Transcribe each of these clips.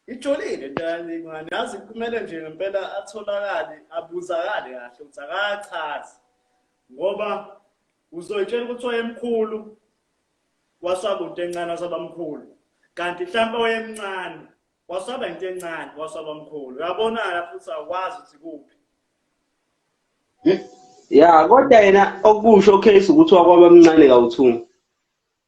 Ijolile into yancane yazi kumele nje ngempela atholakale abuzakale kahle ukuthi akachazi ngoba uzoyitshela ukuthi wayemkhulu wasaba into encane wasaba mkhulu kanti mhlawumbe wayemncane wasaba into encane wasaba mkhulu uyabonana futhi awukwazi ukuthi kuphi ya kodwa yena okusho case ukuthi wakwaba mncane kawuthunga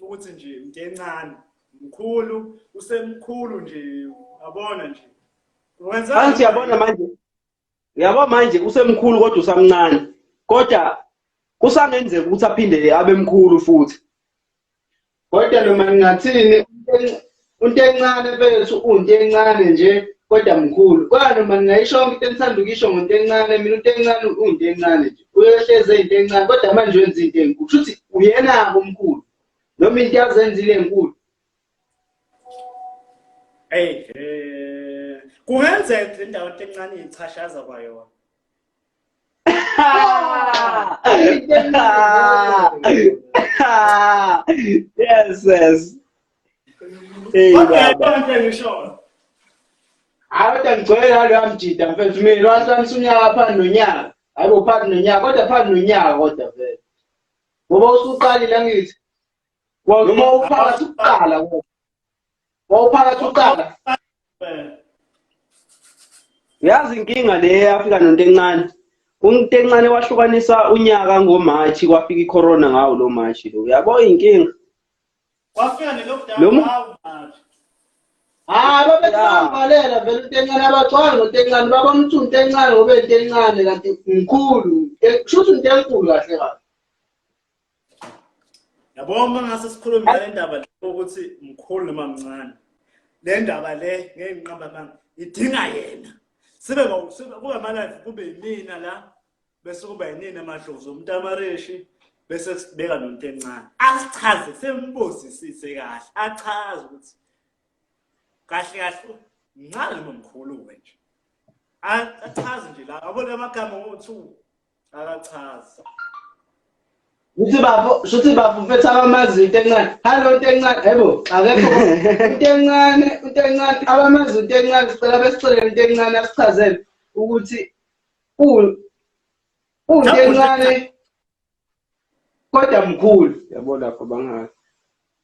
ukuthi nje mntencane mkhulu usemkhulu nje yabona nje manje yabona manje yabo manje usemkhulu kodwa usamncane kodwa kusangenzeka ukuthi aphinde abe mkhulu futhi kodwa noma ningathini Unto encane bethu unto encane nje kodwa mkhulu. Kodwa noma ningayisho yonke into enithanda ukuyisho ngonto encane mina unto encane unto encane nje. Uyohleze into encane kodwa manje wenza into enkulu. Kushuthi uyena komkhulu. Noma into yazenzile enkulu. Hey, eh kungenzeka le ndawo encane ichashaza kwayona. yes, yes. Hey, okay, baba. Hayi kodwa ngigcwele nalo yamjida mfethu mina wahlanisa unyaka phansi nonyaka. Hayi bo phansi nonyaka kodwa phansi nonyaka kodwa vele. Ngoba usuqalile angithi. Noma uphakathi ukuqala kodwa. wawuphakathi uqala yazi inkinga le yafika nonto encane umuntu encane wahlukanisa unyaka ngomarch kwafika icorona ngawo lo march lo uyabo inkinga kwafika nelockdown hayi babethambalela vele intencane abacwanga nontencane babona ukuthi untencane ngobe intencane kanti mkhulu kusho ukuthi untenkulu kahle kahle yabo uma ngase sikhulume ngale ndaba ukuthi mkhulu noma mncane le ndaba le ngeke ngiqamba amanga idinga yena sibe kube amalive kube yimina la bese kuba yinini amadlozi omntamareshi bese sibeka nonto encane asichaze sembuzisise kahle achaze ukuthi kahle kahle mncane noma mkhulu wena nje achaze nje la abona amagama ngo-two akachazi Uthi bafo, shuthi bafo mfethu abamazi into encane. Hello into encane. Yebo, akekho. Into encane, into encane. Abamazi into encane sicela besicele into encane asichazele ukuthi u unto encane kodwa mkhulu. Yabo lapho bangazi.